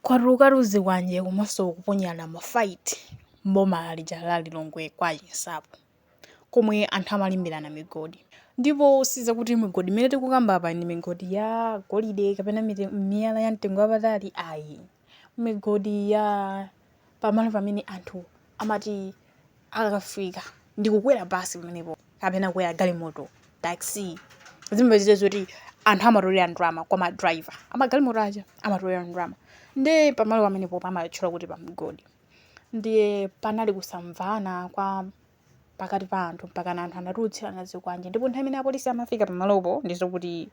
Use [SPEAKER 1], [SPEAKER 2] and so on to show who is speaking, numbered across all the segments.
[SPEAKER 1] Kwatuluka tuzikwanje komanso kuponyerana mafight m'boma lija la Lilongwe kwa Chinsapo komwe anthu amalimbirana migodi. Ndipo si zakuti migodi imene tikukamba apa ndi migodi ya golide kapena miyala ya mtengo wapatali ayi. Migodi ya pamalo pamene anthu amati akafika ndi kukwera basi pamenepo kapena kukwera galimoto taxi zimapezeka zoti anthu amatolera ndalama kwa madriver amagalimoto aja amatolera ndalama nde pamalo pamenepo amatchula kuti pamgodi ndiye panali kusamvana kwa pakati pa anthu mpakana anthu anatulutsirana zikwanje ndipo nthawi imene apolisi amafika pamalopo ndi zokuti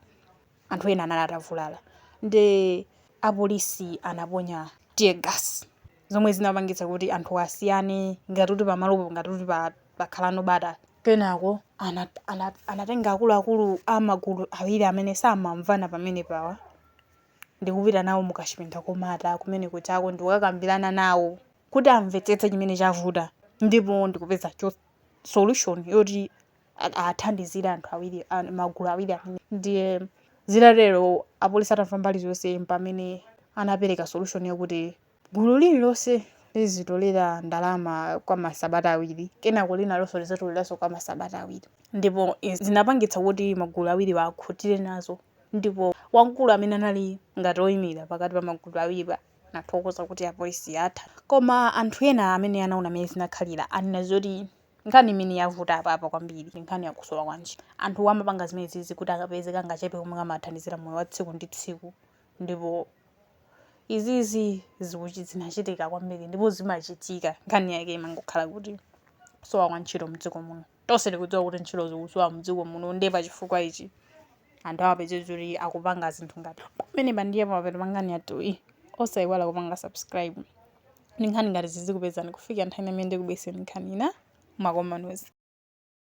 [SPEAKER 1] anthu ena anali atavulala ndi apolisi anaponya tear gas zomwe zinapangitsa kuti anthu asiyane ngati kuti pamalopo ngati kuti pa- pakhaleko bata kenako ana- ana- anatenga akuluakulu a magulu awiri amene samamvana pamene pawa ndikupita nawo mukachipinda komata kumene kuchako ndikukakambirana nawo kuti amvetsetse chimene chavuta ndipo ndikupeza cho- solution yoti athandizire anthu awiri magulu awiri amene ndiye zitatero apolisi atamva mbali zonse mpamene anapereka solution yakuti gulu lililonse lizitolera ndalama kwa masabata awiri kenako linalonso lizatoleranso kwa masabata awiri ndipo zinapangitsa kuti magulu awiriwa akhutire nazo ndipo wamkulu amene anali ngati oyimira pakati pa magulu awiriwa anathokoza kuti apolisi atha koma anthu ena amene anaona mmene zinakhalira anena zoti Nkhani imene yavuta apapa kwambiri ndi nkhani ya kusowa kwa ntchito. Anthuwa amapanga zimenezizi kuti akapeze kangachepe komwe kawathandizira moyo wa tsiku ndi tsiku ndipo izizi zikuchi- zinachitika kwambiri ndipo zimachitika. Nkhani yake imangokhala kuti kusowa kwa ntchito mdziko muno. Tonse tikudziwa kuti ntchito zikusowa mdziko muno ndiye pa chifukwa ichi anthu amapezeka kuti akupanga zinthu ngati zimenezi ndiye pamapeto pa nkhani yathuyi. Osayiwala kupanga subscribe. ndi nkhani ngati zizikupezani kufikira nthawi imene ndikubweretsereni nkhani ina mwakomanos.